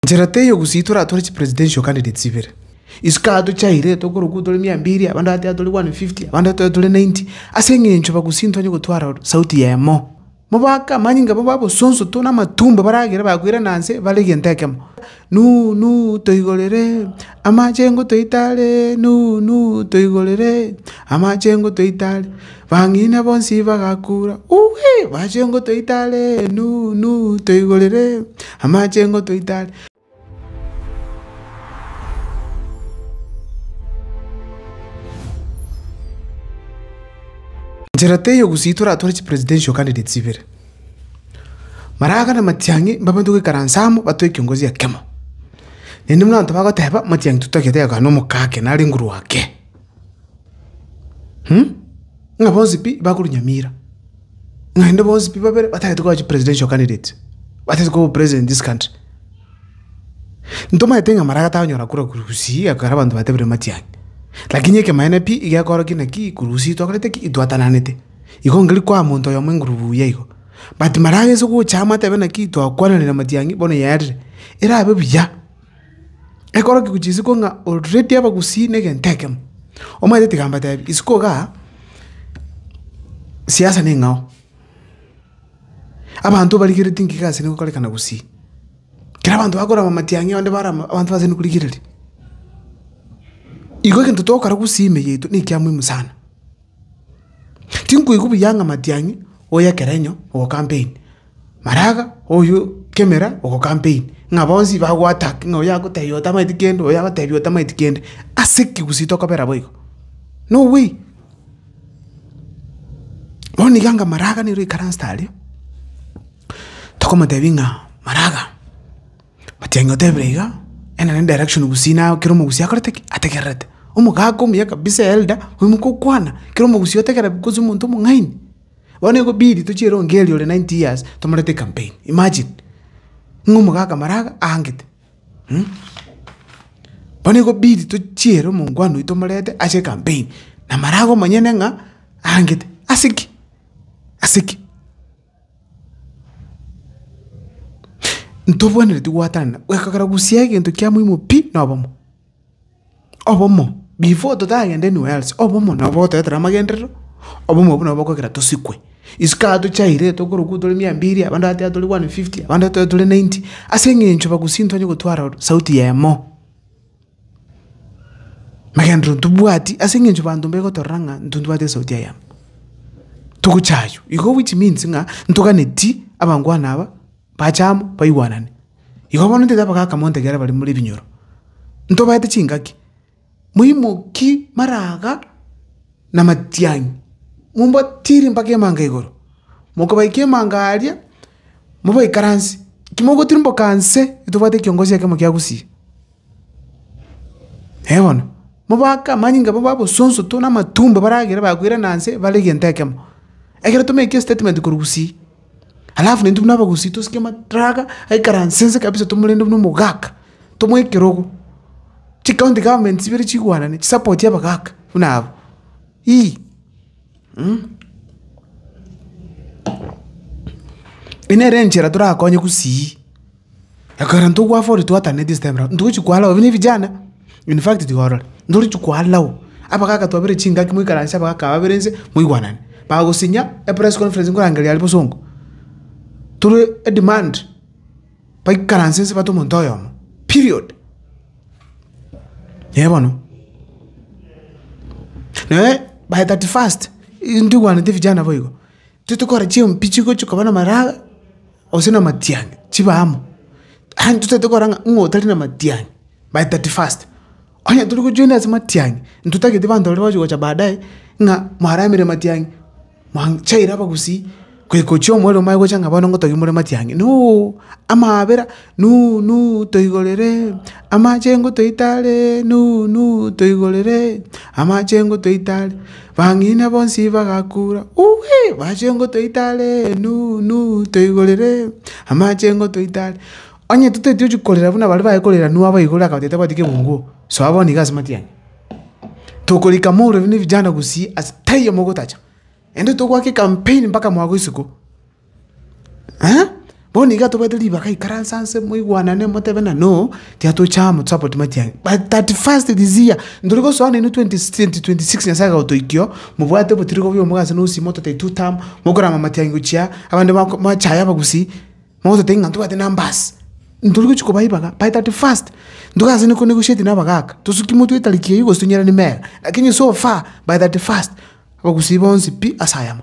Enchera teiyo ogosiitora tore chipresidential candidates ibere. Isiko aa tochaire tokorokwa tore mia mbiri, abande aa tore 150, abande aa tore 90, ase eng'encho bagusii ntwanye gotwara sauti yemo. Mobaake amanyinga abo b'abosonso to namatumbo baragere bakoirana nse bare egento ekemo, Nunu toigorere amachengo toitare, nunu toigorere amachengo toitare. Bang'ina bonsi bagakuura, Uwi! Amachengo toite are, nu, nu, toigorere amachengo toite are. Nchera teiyo gusii toratware chi presidential candidates ibere. Maraga na Matiang'i mbabanto goikaransa amo batoe kiongozi ekemo. Naende buna abanto bagoteba Matiang'i totagete gakana omokake nare nguru ake. Ng'a bonsi pi bakorwa nyamira, naende bonsi pi babere batagete koba chipresidential candidates, batagete koba opresident in this country. Ntomanyete ng'a Maraga tanyora kura korwa Gusii ekero abanto batebire Matiang'i, lakini ekemanene pi iga akorokire nakii korwa Gusii twakorete ki? Itwatananete. Igo ngeria koa monto oyomo engurubu buya igo. But Maraga ase gocha amo atebe nakii twakwananire na Matiang'i bono yarire, erabe buya. Ekorokigwe chisiko ng'a ororeti abagusii negento ekemo. Omanyete tiga mbatebi, isiko igaa, siasa neng'ao, abanto barigereti ng'ai gose negokorekana gusii, kera abanto bakorama amatiang'i onde barama abanto baseini korigereria. Igo egento togokora gusii ime yaito nekiamoimo sana. Tinkoigwa buya ng'a matiang'i oyo ekerenyo ogocampaign, maraga oyo kemera ogocampaign, ng'a bonsi bago attack ng'a oyo agotebi otamaeti kende oyo agotebi otamaeti kende, ase ki gose tokobera boigo? No way. Bono iga anga maraga nere oikaransete aria, tokomotebi ng'a maraga. Otiengi otebire iga, ena ne direction gusii na kera omogusii akorete ki? Ategererete. Omogaka omuya kabisa eelder, oimoke okwana, kera omogusii otegera gose omonto omong'aini. Bono egobidi tochie Rongeria ore ninety years tomorete campaign, imagine. Ng'a omogaka maraga aangete mh. Bono egobidi tochie ere omongwana oito tomorete ase ecampaign, na maraga omonyene ng'a aangete. Ase ki? Ase ki? Ntobwenereti gwatanana, ekero gusii egento kia muhimu pi na obomo. Obomo, before totagenda anywhere else, obomo nabo otoetera amagenderero, obomo obwo nabo okogera tosikwe. Isiko aya tochaire tokorokwa tore mia mbiri, abande aba taiyo tore one and fifty, abande taiyo tore ninety, ase eng'encho bagusii ntibanya gotwara sauti yemo. Ekegenderero ntobwati ase eng'encho banto mbegotorora ng'a ntontwate esauti ya yamo, togocha aywo. Igo which means ng'a ntoganeti abangwana aba bache amo baigwanane. Igo bono ntete abagaka monto ekero bare more ebinyoro, ntobaete chingaki, moimoki mara aga na matiang'i, mombatiiri mpaka emanga igoro. Mokobaika emanga aria, mobaikaransie, ekero mogotirimboka nse, ntobwate ekiongosi ekemo kiagusie. Ee bono, mobake amanyinga abo babosonsoto na amatumbo baragere bakoirana aase bare egento ekemo. Ekero tomeke estatement korwa gusii, alafu naintwe buna abagusii tosike amatraga aikaranse nse kabisa tomorende buna omogaka, tomoe ekerogo, chicounty government chibere chigwanane chisapoti abagaka buna abo ii mh. Eye nere enchera torakonye gusii. Ekero intwe gwafa ore twataneti ase time eye, ntogochi koalao obe nevijana, in fact tiga orore, ntorichi koalao, abagaka twabere chingaki moikaranse abagaka babere nse, moigwanane, bagosinya epress conference nkorangeria aria bosongo, tore edemand, baikaranse nse bate omonto oyomo, period. Eeh bono, naende by thirty first, intwe twaigwanete vijana boigo, intwe tokore chimpi chigochi koba na amaraga. gose na amatiang'i chibe amo. Aye totaete korora ng'a ng'a otari na amatiang'i by thirty first. Onye tori gojoina ase amatiang'i, ntotagete abanto baria bagochi gocha baadaye ng'a mwaramire amatiang'i, mwachaire abagusii, goika ochia omorero omanye gocha ng'a bono ngotogia more amatiang'i nooo, amaabera nuu nuu toigoreree, amachengo toitareee nuu nuu toigoreree, amachengo toitareee. Bang'ina bonsi bagakuura, Uwi! Machengo toite are, nu, nu, toigorere amachengo toite are. Onye toteti ochia korera buna baria baye korera Nuhu abaigorere akabatebia tabwati kebungo, soa bono iga ase matiang'i. Tokorika morero ne vijana gusii ase taiyo mogotacha. Naende togoaka ecampaign mpaka mwagoisiko. Bono nigo atobaete ribaga aikaranse anse moigwanane motebe ng'a no, tiatocha amo support matiang'i. By thirty first this year, ntori gosoa nainwe twenty twenty twenty six Nyasae agotoikio, mobwate obotiriri bobio omobe ase nosi mototai two term, mokorama matiang'i gochia abande bako mwachaye abagusii, mogototebia ng'a ntobwate numbers. Ntori gochia koba ribaga by thirty first, ntoke ase niko negotiating na abagaka, tosuki motwe etariki eyio gose tonyerani mera, lakini so far by thirty first, abagusii bonsi pi ase ayamo.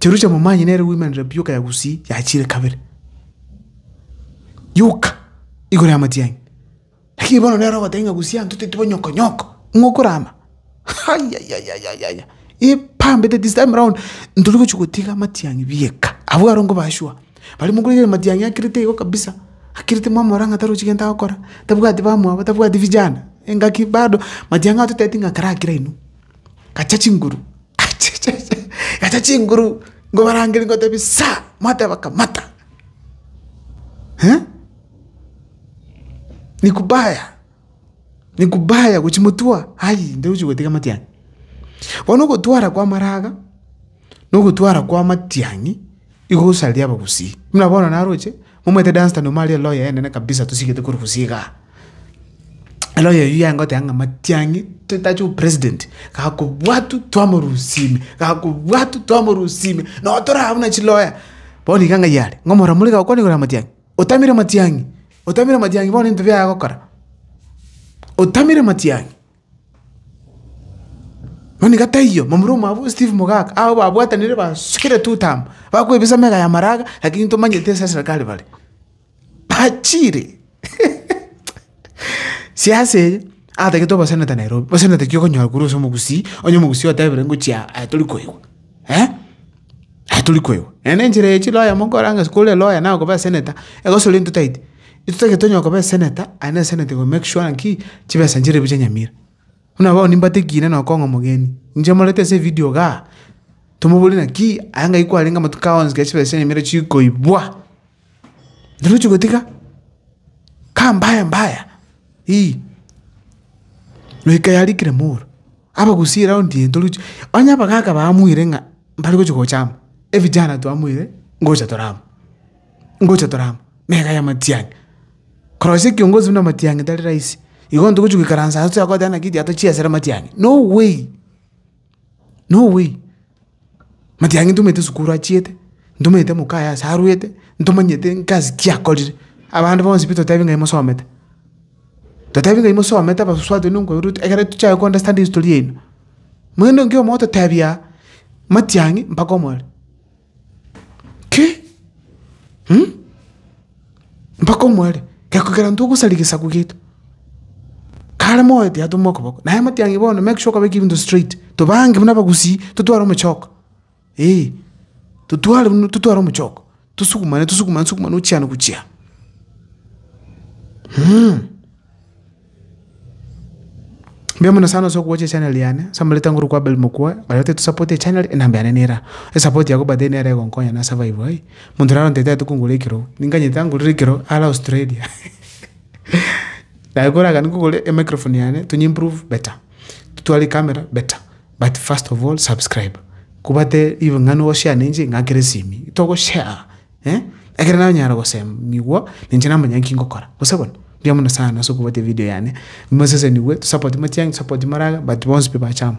Jerusalemu manye nere oimanire bioka ya Gusii yachiire kabere, yoka igoro y'amatiang'i. Lakini bono nere ogoteba ng'a Gusii abanto teti banyokonyoko, ng'a okorama ayayayaya, ebambete this time round ntori gochia gotiga amatiang'i bieka, abwo aro nkoba sure. Bare mokoigwera amatiang'i akirite igo kabisa, akirite mwamorora ng'a tarochi gento agokora, tabwati bamwabo, tabwati vijana, engaki bado, matiang'i atotebeti ng'a karakire inwe. Gacha chinguru gacha chinguru ngobarangeri ngotebi sa mwateba kamata ni kubaya ni kubaya gochi motwa ayii ntogochi gotiga matiang'i. Bono ogotwara kwa maraga na ogotwara kwa matiang'i igo osaria abagusii buna bono naroche Momanyete Dunstan omo aria eloya enene kabisa tosigete korwa bosio igaa. Eloya eyio yagoteba ng'a matiang'i totache opresident gakobwatwa twamorosia ime gakobwatwa twamorosia ime nonye tore abwo buna chiloya. Bono iga ng'ai are ng'a omorero more iga gokwana igoro ya matiang'i. Otamire matiang'i otamire matiang'i bono ebinto biaye agokora otamire matiang'i. Mani ga taiyo, momura omwabo Steve Mogaka, aa babwatanire basukire tutama, bakwebisa mega ya maraga, lakini ntomanyete ase eserekari bare. Bachire, siasa eye, atagete oboseneta Nairobi, boseneta ki okonyora korwa ase omogusii, onye omogusii otebire ngochia aa tori koigwa. eh, aye tori kweigwa. Naende enchera eye chiloya monkore ang'e ase kore loya naye okoba eseneta, egosori entotaiti, intotagete onye okoba eseneta, aye na eseneta iko make sure ng'aki, chibesa nchire ebi chia Nyamira. Buna bono nimbatigire na okong'a omogeni, inche moreta ase evidio igaa, tomoboria naki, aye ng'ai kwarenge amatuko aonsi ekero chibesa chia Nyamira chikoibwa. Noroche gotiga kaa mbaya mbaya ii. Na ekayarikire moro, abagusia eround eye ntoroche, onye abagaka bamwire ng'a mbare gochia gocha amo, evijana twamwire ngocha tore amo, ngocha tore amo, meka ya matiang'i. Korosia ekiongozi buna matiang'i tari rahisi, igo ntogochia goikaransa ase toyakoteba naki ekiagera tochiesere matiang'i, no way. No way, matiga inche ntomanyete sukuru achiete, ntomanyete moka aye ase arwete, ntomanyete egasi ki akorire, abande bonsi pi totebi ng'a imosomete, totebi ng'a imosomete abasusu abanto baino nkoirwa ekero tochiaka ko understand history yaino. Mono nonki omogototebi aa, matiang'i mpaka omorero. Ki? Hm? Mpaka omware, geko kera intwe ogosaria gesaku giaito. Kare moyo tiyatomwa okoboko, naye amatiang'i bono make sure okabeka ebinto straight. Tobange buna abagusii, totware omochoko, eeh, totware buna totware omochoko, tosukumane tosukumane tosukumane ochiana gochia aa, hm. Mbuya mono sana ase ogocha echanel yane, ase amareta nguru kwa Abel Mokua, baria batari tosapote echanel, enamba yane nera. Esapoti yabo by the way nere egonkonya na survive ai, monto oria arontete aete kongora ekero, ninganyete angorere ekero are Australia. Naye kore agani kogora emicrophone yane, tonye improve better, totware ecamera better, but first of all subscribe, kobate ribe ng'ana ogoshare nenche ing'akere esimi, togoshare. Eh, ekero nanyara gosemigwa, ninche namanya nki ngokora. Gose bono, mbuya mono sana ase okobatia evideo yane, mosesenigwe, tosapote matiang'i, tosapote moragera, but bonsi pi bachama.